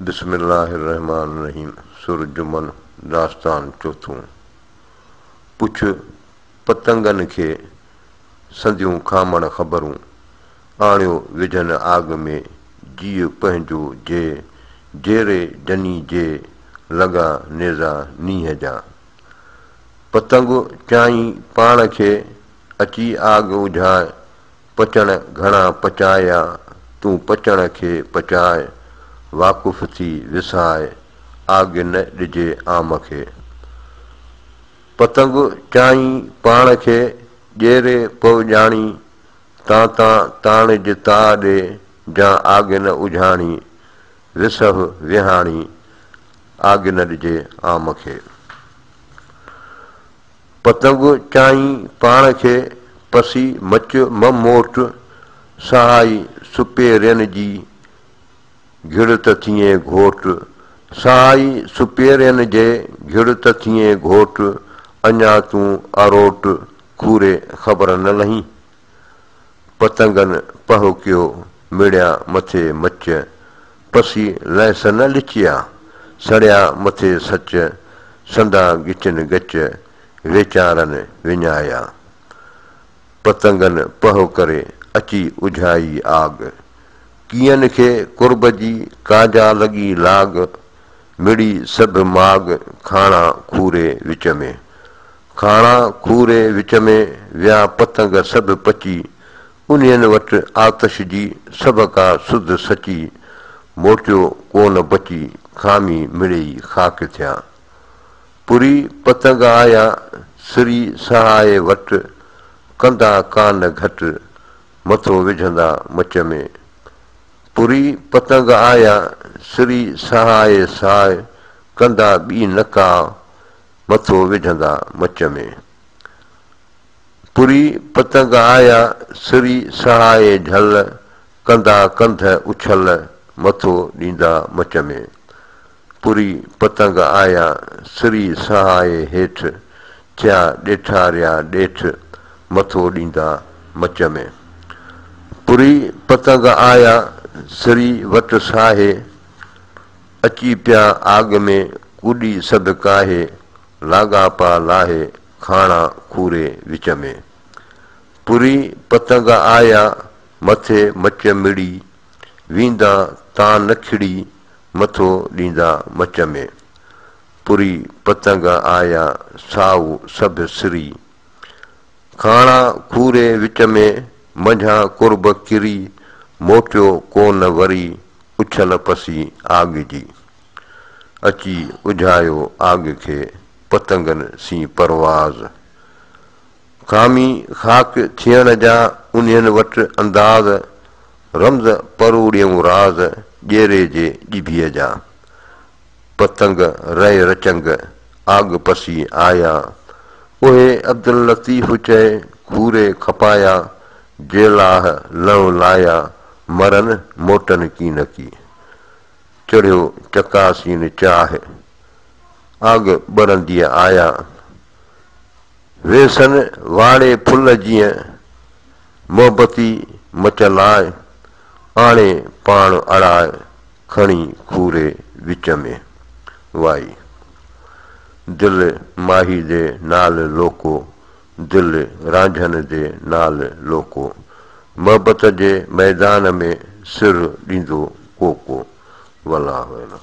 بسم الله الرحمٰن الرحيم سر جمن داستان چوٿون پڇ پتنگن کي سنديون کامڻ خبرون آڻيو وجهن آڳ ۾ جيء پنهنجو جي جيري جني جي لڳا نيزا نينهن جا پتنگ چيائين پاڻ کي اچي آڳ اجهاء پچڻ گهڻا پچايا، تون پچڻ کي پچاء، واقف ٿي وساء، آگ نه ڏجي عام کي. پتنگ چاهين پاڻ کي، ڄيري پو ڄاڻي، تان تان تاڻج تاء ڏي، جان آگ نه اجهاڻي، وسهه وهاڻي، آگ نه ڏجي عام کي. پتنگ چانهين پاڻ کي پسي مچ م موٽ، سهائي سپيرين جي گهڙ ته ٿئين گهوٽ، سهائي سپيرين جي گهڙ ته ٿئين گهوٽ، اڃا تون اروٽ کوري خبر نه لهين. پتنگن پهوڪيو مڙيا مٿي مچ، پسي لهس نه لچيا، سڙيا مٿي سچ، سندا ڳچن ڳچ، ويچارن وڃايا. پتنگن پهو ڪري اچي اجهائي آڳ، ڪيئن کي قرب جي ڪاجا لڳي لاڳ، مڙي سڀ ماڳ کاڻا کوري وچ ۾، ڪاڻا کوري وچ ۾ ويا پتنگ سڀ پچي، انهين وٽ آتش جي سڀ ڪا سڌ سچي، موٽيو ڪو نه بچي، خامي مڙيئي خاڪ ٿيا. پري پتنگ آيا سري سهائي وٽ، ڪندا ڪا نه گهٽ، مٿو وجهندا مچ ۾. پري پتنگ آيا سري سهائي ساء، ڪندا ٻي نه ڪا، مٿو وجهندا مچ ۾. پري پتنگ آيا سري سهائي جهل، ڪندا ڪنڌ اڇل مٿو ڏيندا مچ ۾. پري پتنگ آيا سري سهائي هيٺ، ٿيا ڏيٺاريا ڏيٺ مٿو ڏيندا مچ ۾. پري پتنگ آيا سري وٽ ساهي، اچي پيا آڳ ۾ ڪوڏي سڌ ڪاهي، لاڳاپا لاهي کاڻا کوري وچ ۾. پري پتنگ آيا، مٿي مچ مڙي، ويندا تان نه کڙي، مٿو ڏيندا مچ ۾. پري پتنگ آيا، سائو سڀ سري، ڪاڻا کوري وچ ۾، منجهان قرب ڪري، موٽيو ڪو نه وري، اڇل پسي آڳ جي. اچي اجهايو آڳ کي، پتنگن سين پرواز. خامي خاڪ ٿيڻ جا، انهين وٽ انداز، رمز پروڙيئون راز، ڄيري جي ڄڀيء جا. پتنگ رئي رچنگ، آڳ پسي آيا. اهي عبداللطيف چئي کوري کپايا، جيلاهه لئون لايا، مرن موٽن ڪي نه ڪي. چڙهيو چڪاسين چاهه، آڳ ٻرندي آيا. ويسن واڙي ڦل جيئن، محبتي مچ لاء، آڻي پاڻ اڙاء. کڻي کوري وچ ۾، وائي. دل ماهي دي نال لوڪو، دل رانجهن دي نال لوڪو. محبت جي ميدان ۾ سر ڏيندو ڪوڪو. والله اعلم.